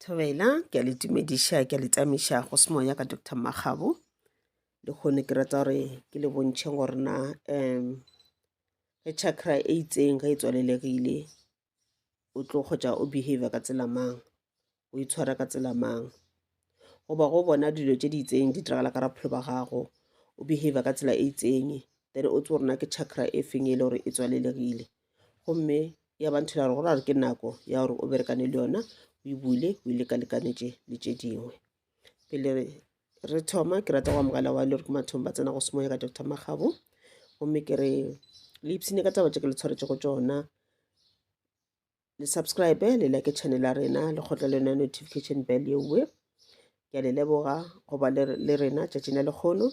thobela ke a le tumediša ke a le tamiša go se moya ka dr makgabo le kgone ke rata gore ke le bontšhe gore na um ge chakra e itseng ge e tswalelegile o tlo kgotsa o behavior ka tsela mang o itshwara ka tsela mang goba go bona dilo tše di itseng di diragala ka raphelo ba gago o behavior ka tsela e itseng then o tse gore na ke chakra e feng e le gore e tswalelegile gomme ya ba nthela gore go ra gore ke nako ya gore o berekane le yona o e bule o e lekalekanetše le tše dingwe pele re thoma ke rata go amogela wa le gore ke mathong ba tsena go semoya ka dr magabo gomme ke re le ipsene ka taba tše ke le tshwaretse go tsona le subscribe le like channel ya rena le kgotla le yona notification bell yewe ke a le leboga go ba le, le rena tšatšing la lekgono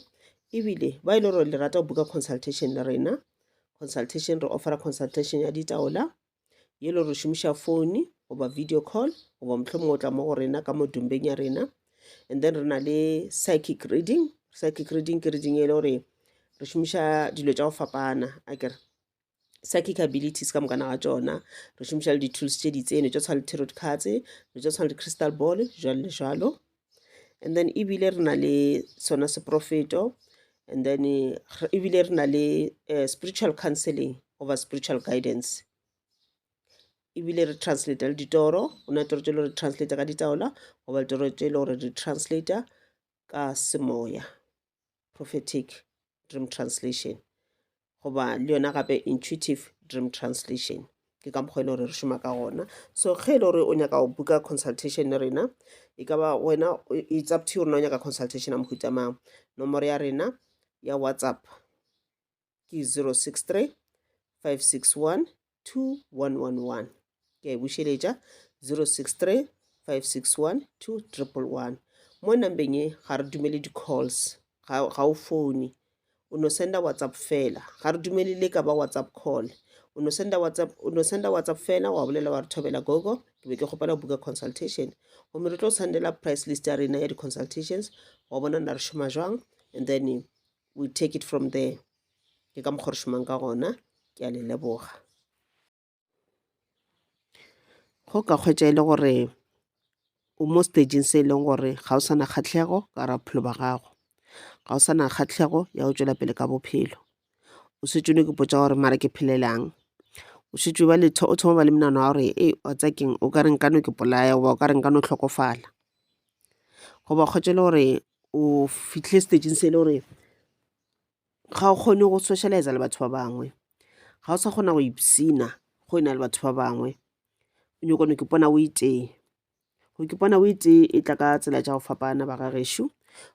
ebile ba e le gore le rata go buka consultation le rena consultation re offera consultation ya ditaola ye le re šomiša phone goba video call goba motlho mongwe o tla mo go rena ka modumbeng ya rena and then re na le psychic reading psychic reading ke reading e le gore re šomiša dilo tša go fapana a kere psychic abilities ka mokana wa tšona re šomiša le di-tools tše di tseno tša tshwana le tarot cards re tša tshwana le crystal ball jalo le jalo and then ebile re na le sona seprofeto and then ebile re na le uh, spiritual counseling over spiritual guidance ebile re translate le ditoro o na toro tše le re translate ka ditaola goba ditoro tše le gore re translate ka semoya, prophetic dream translation, goba le yona gape intuitive dream translation ke ka mokgwa e le gore re šoma ka gona so ge e le gore o nyaka go buka consultation le rena e ka ba wena it's up to you rena o nyaka consultation ya mohuta mang nomoro ya rena ya whatsapp ke 063 561 2111 ke a e bušeletša 063 561 2111 mo nambeng e ga re dumele di-calls ga, ga o fone o no senda whatsapp fela ga re dumele le ka ba whatsapp call o no senda whatsapp o no senda whatsapp fela wa bolela wa re thobela gogo ke be ke kgopela go buka consultation gomme re tlo sendela price list ya rena ya di-consultations wa bona na re šoma jwang and then we take it from there ke ka mokgwa re šomang ka gona ke a le leboga go ka kgwetša e le gore o mo stageng se e leng gore ga o sa na kgatlhego ka ra bophelo ba gago ga o sa na kgatlhego ya go tšwela pele ka bophelo o setsone ke potsa gore mara ke phelelang o šetše ba letho o thoma ba le menano wa gore e wa tsakeng o ka re nkano ke polaya goba o ka re nkano tlhokofala goba kgotse le gore o fitlhile stageng se e le gore ga o kgone go socialize le batho ba bangwe ga o sa kgona go ipsina go e na le batho ba bangwe o nyakone ke pona o itee go ke pona o itee e tla ka tsela tša go fapana ba ga gešo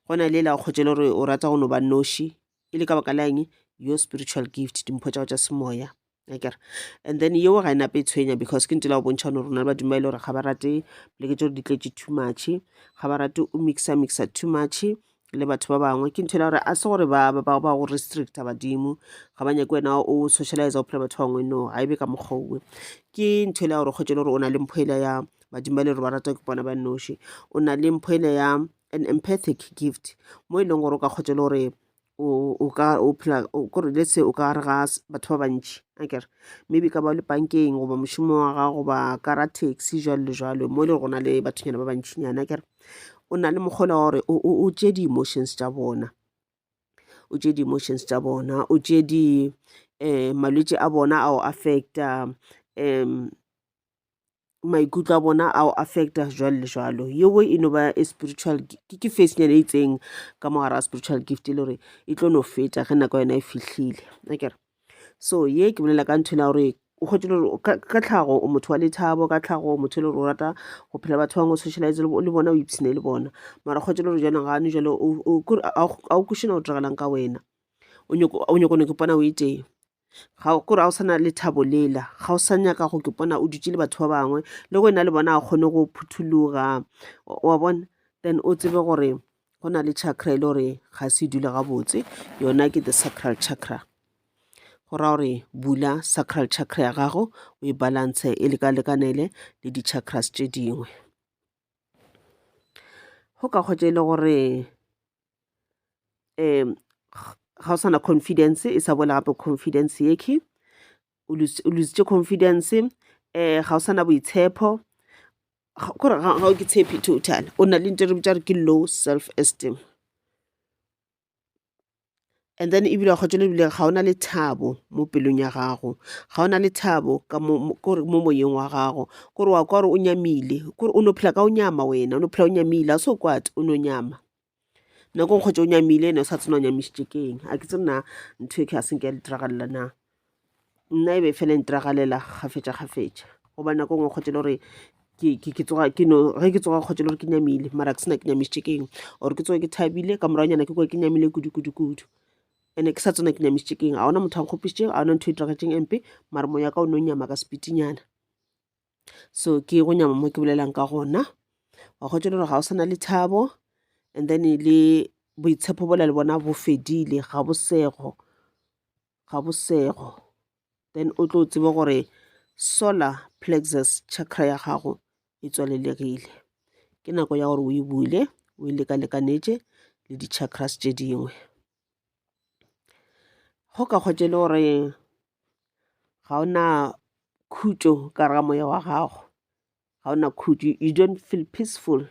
go na le la o kgotšele gore o rata go no ba noši e le ka baka la eng your spiritual gift dimpho tša go tša semoya akere and then yeo ga e nape e tshwenya because ke ntse la go bontšha gore rona le badimo ba e le gore ga ba rate poleke tse gore di tletše too much ga ba rate o mixa mixa too much le batho ba bangwe ke ntho e le gore a se gore ba go restricta badimo ga ba nyake wena o socialize o phela batho ba bangwe no ga e be ka mokgwa owe ke ntho e le ya gore kgwetse le gore o na le mpho ele ya badimo ba le gore ba rata ke bona ba noši o na le mpho ele ya an empathic gift mo e leng gore o ka kgwetse le gore o ka o phela kore let's say o ka re ga batho ba bantši akere maybe ka ba le bankeng goba mošomo wa gago goba ka ra taxi jalo le jalo mo e le go na le bathoyana ba bantšhinyana akere o na le mokgolo wa gore o tšee di-emotions tša bona o tšee di-emotions tša bona o tšee di um malwetse a bona a o affecta um maikutlo a bona a o affecta jwalo le jwalo yewo e no ba a spiritual ke facenyana e itseng ka mogare a spiritual gift e le gore e tlo no feta ge nako yona e fihlile akere so ye ke bolela ka ntho ena gore o kgwetse le gore ka tlhago o motho wa lethabo ka tlhago motho e le gore o rata go phela batho bangwe o socialize le bona o ipshine le bona mara kgwetse le gore jaanong gane jale a o kušena go diragelang ka wena o nyoko o nyoko ne ke pona o e tee ga o kore ga o sa na le thabo lela ga o sa nyaka go ke pona o dutse le batho ba bangwe le go ena le bona a kgone go phuthologa wa bona then o tsebe gore go na le chakra e le gore ga se dula gabotse yona ke the sacral chakra go raya gore bula sacral chakra ya gago o e balance e lekalekanele le di-chakras tše dingwe go ka kgwetsa e le gore um ga o sana confidence e sa boela gape confidence yeke o lositše confidence um ga o sana boitshepho kore ga o ke tshepi total o na le nte re bitša re ke low self esteem And then ebile wa kgotšela ebile ga o na lethabo mo pelong ya gago, ga o na lethabo ka mo mo- kore mo moyeng wa gago, kore wa kwa gore o nyamile, kore o no phela ka o nyama wena, o no phela o nyamile, a se o kwate o no nyama nako nkgwetše o nyamile ene o sa tsena o nyamišitše keng a ke tsena ntho e ke ga se nke ya le diragalela na nna e be e fela ntiragalela gafetša gafetša goba nako ngwe kgotse le gore ke tsoga ke no ge ke tsoga kgotse le gore ke nyamile mara ke sena ke nyamišitše ke eng or ke tsoge ke thabile ka moragonyana ke kwa ke nyamile kudu kudu kudu and-e ke sa tsena ke nyamišitše ke eng ga ona motho a nkgopišitše ga ona ntho e diragetseng empe mara moya ka o ne o nyama ka sepitinyana so ke go nyama mo ke bolelang ka gona wa kgotse le gore ga o sana le thabo and then le boitshepo bola le bona bo fedile ga bosego ga bosego then o tlo tsebe gore solar plexus chakra ya gago e tswalelegile ke nako ya gore o e bule o e lekalekanetše le di-chakras tše dingwe go ka kgwetše le gore ga o na khutšo ka ramoya wa gago ga o na khutšo you don't feel peaceful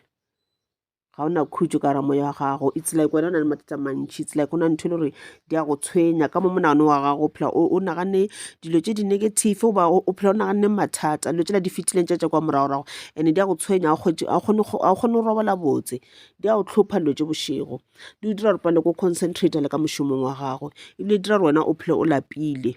ga ona khutšo ka ra moya wa gago it's like wena o na le mathata mantšhi it's like go na ntho e le gore di a go tshwenya ka mo monagano wa gago phela o nagane dilo tse di-negative goba o phela o naganne mathata dilo tsela di fetileng tša tša kwa moragorago and-e di a go tshwenya a o kgone go robala botse di a go tlhopha dilo tse bošego di o dira gore pale ko concentrate le ka mošomong wa gago ebile di dira gore wena o phele o lapile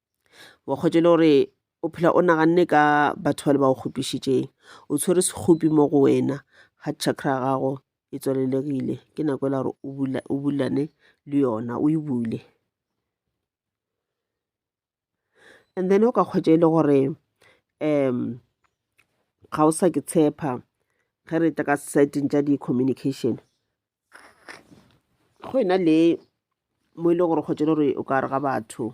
wa kgwetša e le gore o phela o naganne ka batho ba le ba go kgopišitšeng o tshwere sekgopi mo go wena ga chakra ya gago e tswalelegile ke nako e le gore o bulane le yona o e bule and then o ka kgwetša e le gore um ga o sa ke tshepa ge re tla ka seteng tša di-communication go e na le mo e le gore kgotsa le gore o ka re ga batho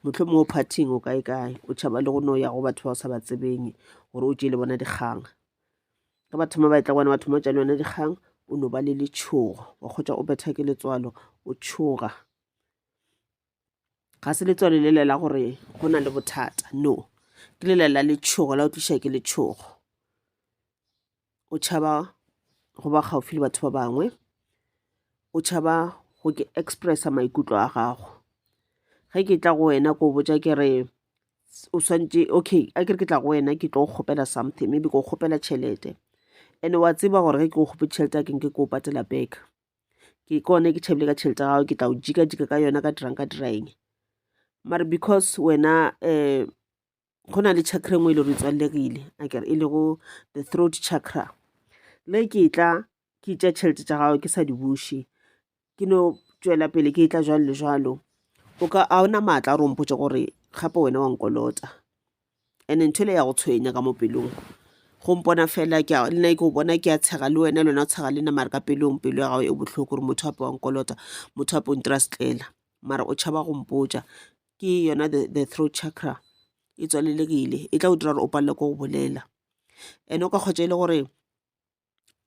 motlho mongwe o phathing o kae kae o tšhaba le go no ya go batho ba o sa ba tsebeng gore o tšee le bona dikgang ka ba thoma ba etla gona ba thoma o tša le yona dikgang o no ba le letshogo wa kgotsa o betha ke letswalo o tshoga ga se letswalo le lela gore go na le bothata no ke lela la letšhogo la o tliša ke letšhogo o tšhaba go ba gaufi le batho ba bangwe o tšhaba go ke expressa maikutlo a gago ge ke tla go wena ko botja ke re o swantše okay a ke re ke tla go wena ke tlo go kgopela something maybe ke go kgopela tšhelete and wa tseba gore ge ke go kgopetse tšhelete a keng ke ke o patela back ke kone ke tšhabile ka tšhelete ya gago ke tla o jika jika ka yona ka dirang ka diraeng mare because wena um go na le chakra engwe e le gore e tswallegile akere e lego the throat chakra le ke tla ke tša tšhelete tša gago ke sa di buše ke no tšwela pele ke tla jalo le jalo o ka a ona maatla a rompotse gore gape wena wa nkolota ene ntho ele ya go tshwenya ka mo pelong go mpona fela ke a- le nna ke o bona ke a tshega le wena le wena o tshega le nna mare ka pelong pelo ya gago e bohloko gore motho ape wa nkolota motho ape o ntira setlela mara o tšhaba go mpotša ke yona the, the throat chakra e tswalelegile e tla o dira gore o palelwe ke go bolela ene o ka kgotša e le gore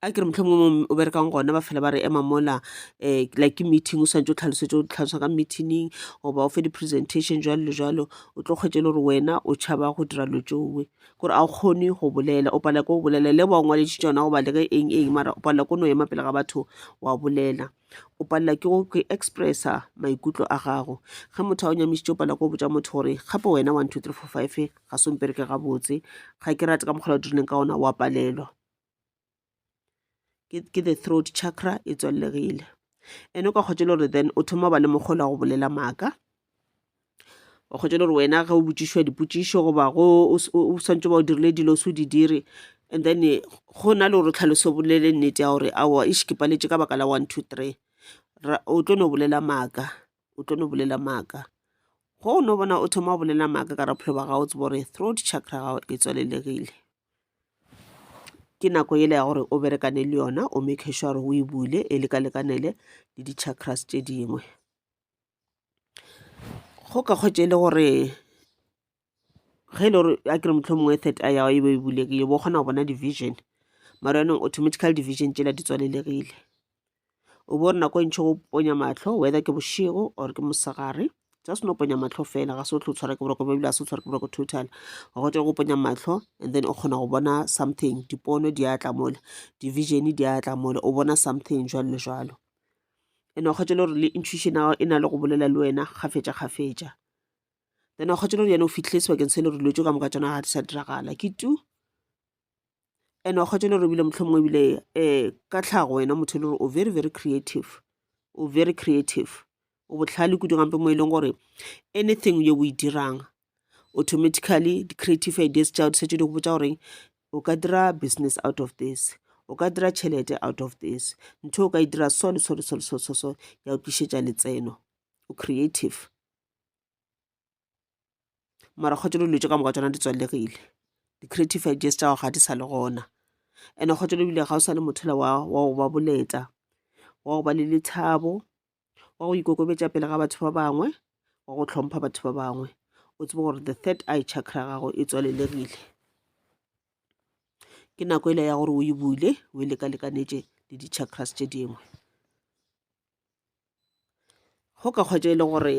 a ke re motlho mongwe o berekang gona ba fela ba re ema mola um like ke meeting o swantse o tlhalosetse o tlhalosa ka meetingng goba o fe di-presentation jalo le jalo o tlo kgwetse le gore wena o tšhaba go dira lo tsoe kore a o kgone go bolela o palela ko go bolela le ba o ngwaletše tsona goba le ge eng eng mara o palela ko no ema pele ga batho wa bolela o palela ke go ke expressa maikutlo a gago ge motho a o nyamisitse o palela ko botsa motho gore gape wena one two three four five ga se ompereke gabotse ga ke rate ka mokgwa o dirileng ka ona wa palelwa ke the throat chakra e tswallegile ene o ka kgotse le gore then o thoma ba le mokgolo go bolela maaka o kgotse le gore wena ge o botsišwa dipotsišo goba go o swantse ba o dirile dilo se o di dire and then go na le gore tlhaloso bolele nnete ya gore awa e šikipaletse ka baka la one two three o tlo no bolela maaka o tlo no bolela maaka go o no bona o thoma o bolela maaka ka rapholo ba gago tsebo gore throat chakra gago e tswalelegile ke nako yela ya gore o berekane le yona o make sure gore o e bule e lekalekanele le di-chakras tše dingwe go ka kgwetse e le gore ge e le gore a kere motlho mongwe third eye yago e be e bulekile bo kgona go bona division mara yanong automatically division tsela di tswalelegile o bo re nako e ntšhi go ponya mahlo whether ke bošego or ke mosegare just no ponya mahlo fela ga se o tlo tshwara ke boroko bebile ga se o tshwara ke boroko total gote go ponya mahlo and then o kgona go bona something dipono di a tla mole division di a tla mole o bona something jalo le jalo and o kgwetse le gore le intuition ya gago e na le go bolela le wena kgafetša kgafetša then o kgwetse le gore yena o fitlhile sebakeng se le gore dilo tse ka moka tsona ga di sa diragala ke tu and wa kgotsa le gore ebile motlhomongwe ebile um ka tlhago wena motho e le gore o very very creative o very creative o botlhale kudu gampe mo e leng gore anything yo o e dirang automatically di-creative ideas tša di setse di go botsa gore o ka dira business out of this o ka dira tšhelete out of this ntho o ka e dira so le so le so le so so so ya o tlišetša letseno o creative mara kgotsa dilo tse ka moka tsona di tswalegile di-creative ideas tša gago ga di sa le gona and-e kgotsa ebile ga o sa le motho le wa go ba boletla wa go ba le lethabo wa go ikokobetša pele ga batho ba bangwe wa go tlhompha batho ba bangwe o tsebe gore the third eye chakra ya gago e tswalelegile ke nako ele ya gore o e bule o e lekalekanetše le di-chakras tše dingwe go ka kgwetša e le gore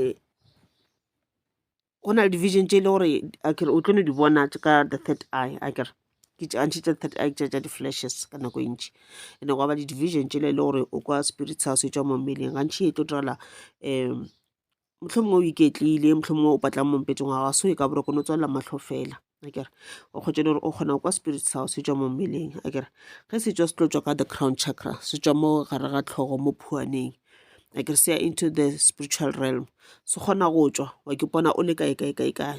go na le division tše e le gore akere o tlo no di bona ka the third eye akere ke antšhe tša third eye tša tša di-flashes ka nako e ntši and-e gwa ba di-division tšela e le gore o kwa spirit sa se tšwa mo mmeleng gantšhi e tlo direla um mohlomongwe o iketlile mohlomongwe o patlang mompetšong wa gago so e ka boroko no tswalela mahlo fela akere o kgotse le gore o kgona go kwa spirit sa gago se tswa mo mmeleng akere ge se tswa se tlo tswa ka the crown chakra se tswa mo gare ga tlhogo mo phuaneng akere se ya into the spiritual realm se kgona go tswa wa ke pona o le kae kae kae kae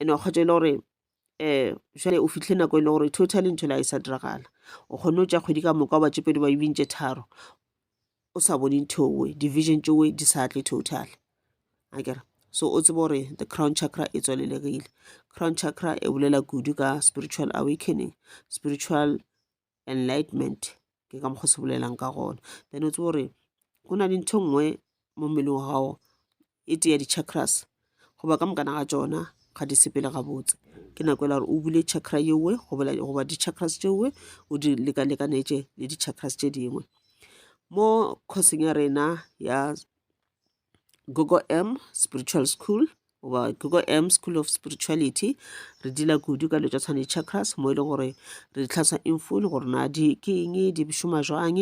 ene o kgotsa e le gore um jale o fitlhe nako e le gore totally ntho la e sa diragala o kgone o tša kgwedi ka moka ba tšepedi ba bintše tharo o sa bone nthowe division tšowe di sa tle total a kere so o tsebe gore the crown chakra e tswalelegile crown chakra e bolela kudu ka spiritual awakening spiritual enlightenment ke ka mokgwa se bolelang ka gona then o tsebo gore go na le ntho e nngwe mo mmeleng wa gago e tee ya di-chakras goba ka mokana ga tsona ga di sepele gabotse ke nako e la gore o bule chakra yewe goba di-chakras tšewe o di lekalekanetše le di-chakras tše dingwe mo courseng ya rena ya Gogo M Spiritual School goba Gogo M School of Spirituality re dila kudu ka letša tshwane chakras mo e leng gore re di tlhasa in full gore na di ke eng di šoma jwang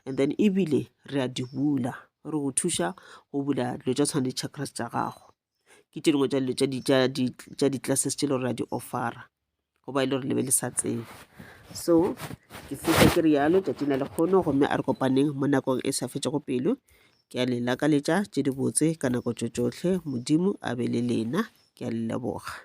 and then ebile re a di bula re go thuša go bula dilo tša tshwane chakras tša gago ke tše dingwe tša dilo tša di-classes tše le gore ra di offera goba e le gore le be le sa tsebe so ke feta ke rialo tšatši na le kgono gomme a re kopaneng mo nakong e sa fetšego pelo ke a le lakaletša tše dibotse ka nako tšo tšohle modimo a be le lena ke a le leboga